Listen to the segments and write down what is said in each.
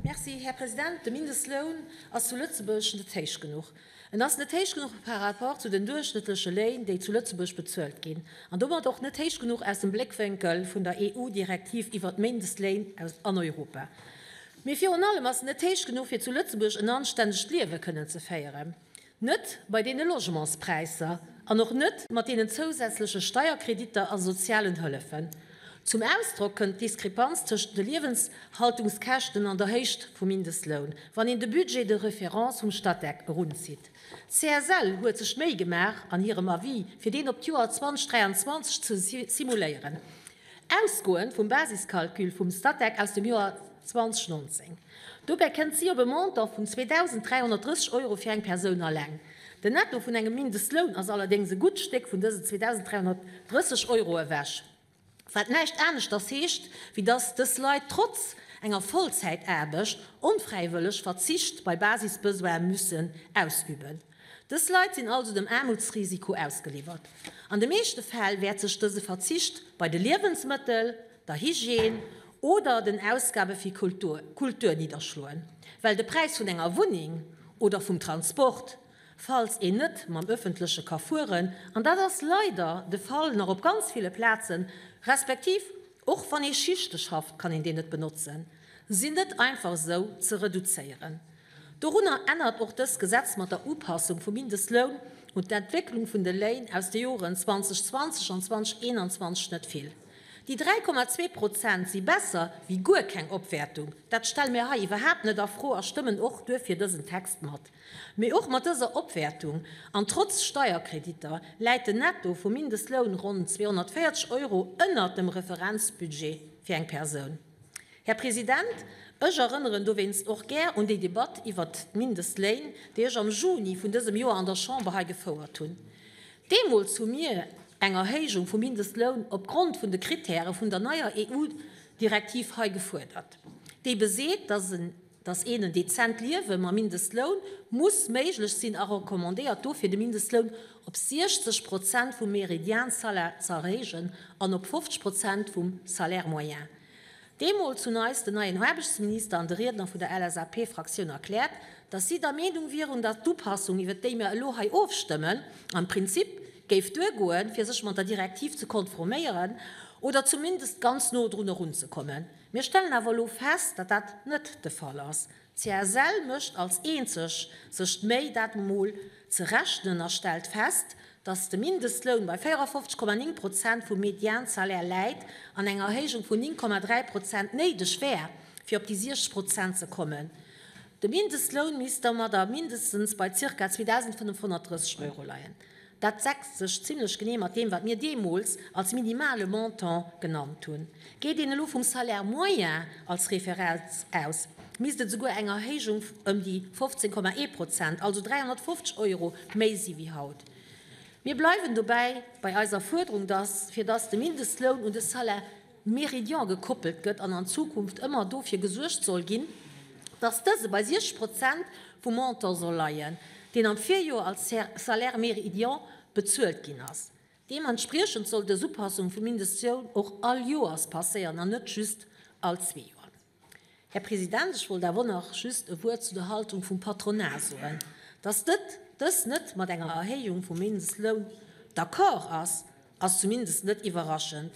Merci, Här President. De Mindestloun ass zu Lëtzebuerg net héich genuch. En ass net héich genuch par rapport zu den duerchschnëttleche Léin, déi zu Lëtzebuerg bezuelt ginn, an domat och net héich genuch aus dem Bléckwénkel vun der EU-Direktiv iwwert d'Mindestléin an Europa. Mee virun allem ass en net héich genuch, fir zu Lëtzebuerg en anstännegt Liewe kënnen ze féieren. Net bei deene Logementspräisser an och net mat deenen zousätzleche Steierkreditter a sozialen Hëllefen. Zum Ausdrock kënnt d'Diskrepanz tëschent de Liewenshaltungskäschten an der Héicht vum Mindestloun, wann een de Budget de référence vum Statec erunzitt. D'CSL huet sech d'Méi gemaach, an hirem Avis, fir deen op d'Joer 2023 ze simuléieren. Ausgoend vum Basiscalcul vum Statec aus dem Joer 2019. Dobäi kënnt si op e Montant vun 2.330 Euro fir eng Persoun alleng. Den Netto vun engem Mindestloun ass allerdéngs e gutt Stéck vun dëse 2.330 Euro ewech, wat näischt aneschters heescht, wéi dass dës Leit trotz enger Vollzäitaarbecht onfräiwëlleg Verzicht bei Basisbesoine mussen ausüben. Dës Leit sinn also dem Aarmutsrisiko ausgeliwwert. An de meeschte Fäll wäert sech dëse Verzicht bei de Liewensmëttel, der Hygiène oder den Ausgabe fir Kultur nidderschloen, well de Präis vun enger Wunneng oder vum Transport, falls een net mam Ëffentleche ka fueren, an dat ass leider de Fall nach op ganz ville Plazen, respektiv och wann ee Schichte schafft, kann een deen net benotzen, sinn net einfach esou ze reduzéieren. Dorunner ännert och dëst Gesetz mat der Upassung vum Mindestloun un d'Entwécklung vun de Léin aus de Joren 2020 an 2021 net vill. Déi 3,2 Prozent si besser wéi guer keng Opwäertung, dat stelle mir hei iwwerhaapt net a Fro a stëmmen och duerfir dësen Text mat. Mee och mat dëser Opwäertung an trotz Steierkreditter läit den Netto vum Mindestloun ronn 240 Euro ënnert dem Referenzbudget fir eng Persoun. Här President, ech erënneren dowéinst och gär un déi Debatt iwwert d'Mindestléin, déi ech am Juni vun dësem Joer an der Chamber hei gefouert hunn. Deemools hu mir eng Erhéijung vum Mindestloun opgrond vun de Krittäre vun der neier EU-Direktiv hei gefuerdert, déi beseet, dass en Dass een en dezent Liewe mam Mindestloun muss méiglech sinn a recommandéiert dofir de Mindestloun op 60 Prozent vum Meridiansalaire z'erhéijen an op 50 Prozent vum Salaire moyen. Deemools hunn eis den neien Aarbechtsminister an de Riedner vun der LSAP-Fraktioun erkläert, dass si der Meenung wieren, dass d'Upassung iwwert déi mir elo hei ofstëmmen am Prinzip géif duergoen fir sech mat der Direktiv ze konforméieren oder zumindest ganz no drun erunzekommen. Mir stellen awer elo fest, datt dat net de Fall ass. D'CSL mécht als eenzeg sech d'Méi, dat emol ze rechnen a stellt fest, datt de Mindestloun bei 54,9 Prozent vum Mediansalaire läit an eng Erhéijung vun 9,3 Prozent néideg wär, fir op déi 60 Prozent ze kommen. De Mindestloun misst domadder mindestens bei zirka 2.530 Euro leien. Dat deckst sech zimlech genee mat deem, wat mir deemools als minimale Montant genannt hunn. Geet een elo vum Salaire moyen als Referenz aus, misst et souguer eng Erhéijung ëm déi 15, ee Prozent, also 350 Euro méi si wéi haut. Mir bleiwen dobäi bei eiser Fuerderung, datt, fir datt de Mindestloun un de Salaire, Meridian gekoppelt gëtt an an Zukunft ëmmer dofir gesuergt soll ginn, dass dëse bei 60 Prozent vum Montant soll leien, deen am Virjoer als Salaire meridian bezuelt ginn ass. Deementspriechend soll dës Upassung vum Mindestloun och all Joers passéieren an net just all zwee Joer. Här President, ech wollt awer och nach just e Wuert zu der Haltung vum Patronat soen, dass dës net mat enger Erhéijung vum Mindestloun d'accord ass, ass zumindest net iwwerraschend.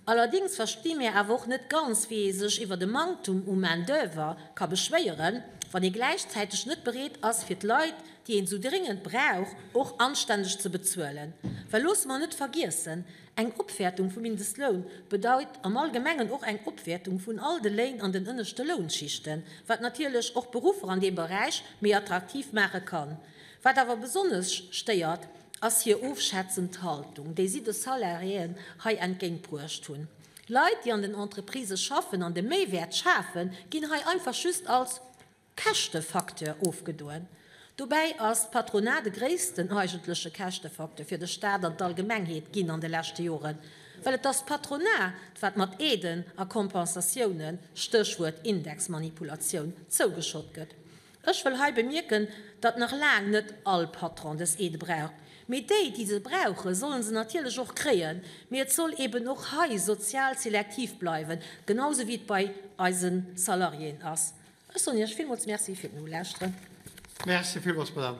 Allerdéngs versti mir awer och net ganz, wéi ee sech iwwert e Manktum u Main-d'oeuvre ka beschwéieren, wann ee gläichzäiteg net bereet ass, fir d'Leit, déi een esou dringend brauch, och anständeg ze bezuelen. Well loosse mer net vergiessen. Eng Opwäertung vum Mindestloun bedeit am Allgemengen och eng Opwäertung vun all de Léin an den ënneschte Lounschichten, wat natierlech och d'Beruffer an deem Beräich méi attraktiv maache kann. Wat awer besonnesch stéiert, ass hir ofschätzend Haltung, déi si de Salariéen hei entgéintbruecht hunn. Leit, déi an den Entreprisë schaffen an de Méiwäert schafen, ginn hei einfach just als Käschtefacteur ofgedoen. Dobäi ass d'Patronat de gréissten eigentleche Käschtefacteur fir de Staat an d'Allgemengheet ginn an de leschte Joren, well et ass d'Patronat, wat mat Aiden a Kompensatiounen, Stéchwuert Indexmanipulatioun, zougeschott gëtt. Ech wëll hei bemierken, datt nach laang net all Patron dës Aide braucht, mee déi, déi se brauchen, sollen se natierlech och kréien, mee et soll eben och hei sozial selektiv bleiwen, genau esou wéi et bei eise Salariéen ass. Ech soen Iech villmools Merci fir den Ulauschteren. Merci villmools, Madame.